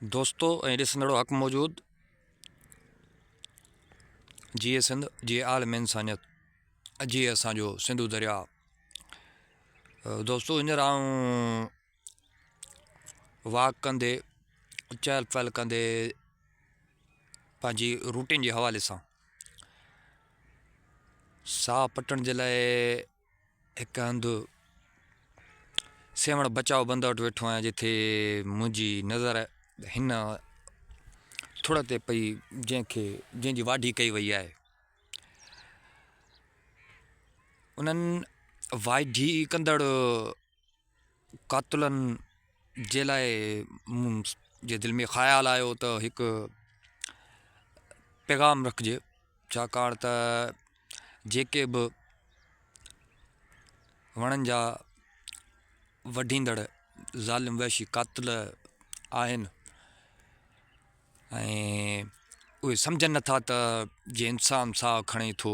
دوستو ۽ ڏسندڙو حق موجود جيئي سنڌ جيئي عالم انسانيت جيئي اسان جو سنڌو دريا دوستو هينئر آئون واڪ ڪندي چهل پهل ڪندي پنهنجي روٽين جي حوالي سان ساهه پٽڻ جي لاء هڪ هنڌ سيوهڻ بچاء بند وٽ ويٺو آهيان جتي منهنجي نظر هن ٿڙ تي پئي جنهن کي جنهن جي واڍي ڪئي وئي آهي انهن واڍي ڪندڙ قاتلن جي لاء مون جي دل ۾ خيال آيو ته هڪ پيغام رکجي ڇاڪاڻ ته جيڪي به وڻن جا وڍيندڙ ظالم وحشي قاتل آهن ۽ اهي سمجهن نٿا ته جي انسان ساهه کڻي ٿو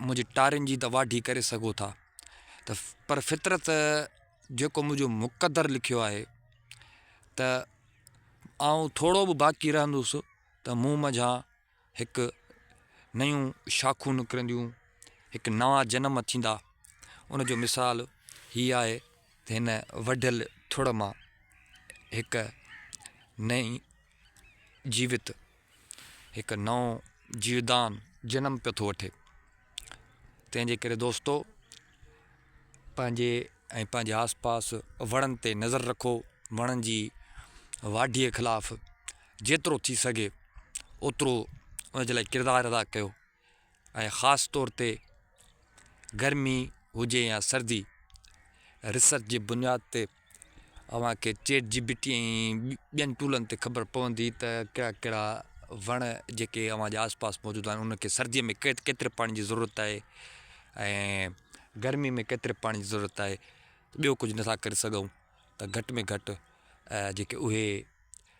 منهنجي ٽارين جي ته واڍي ڪري سگهو ٿا ته پر فطرت جيڪو منهنجو مقدر لکيو آهي ته آئون ٿورو به باقي رهندس ته مون منجهان هڪ نيون شاخون نڪرنديون هڪ نوان جنم ٿيندا ان جو مثال هي آهي ته هن وڍيل ٿڙ مان هڪ نئي جيوت هڪ نئون جيودان جنم پيو ٿو وٺي تنهن جي ڪري دوستو پنهنجي ۽ پنهنجي آس پاس وڻن تي نظر رکو وڻن جي واڍيء خلاف جيترو ٿي سگهي اوترو ان جي لاء ڪردار ادا ڪيو ۽ خاص طور تي گرمي هجي يا سردي ريسرچ جي بنياد تي اوهان کي چيٽ جي بي ٽي ۽ ٻين ٽولن تي خبر پوندي ته ڪهڙا ڪهڙا وڻ جيڪي اوهان جي آس پاس موجود آهن انهن کي سردي ۾ ڪيتري پاڻي جي ضرورت آهي ۽ گرمي ۾ ڪيتري پاڻي جي ضرورت آهي ٻيو ڪجهه نٿا ڪري سگهون ته گهٽ ۾ گهٽ جيڪي اهي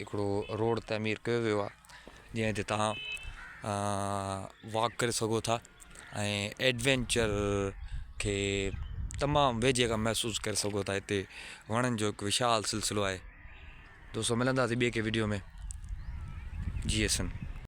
هڪڙو روڊ تعمير ڪيو ويو آهي جنهن تي توهان واڪ ڪري سگهو ٿا ۽ ايڊوينچر کي تمام ويجهي کان محسوس ڪري سگهو ٿا هتي وڻن جو هڪ وشال سلسلو آهي دوستو ملنداسي ٻي ڪنهن وڊيو ۾ جي ايس ايم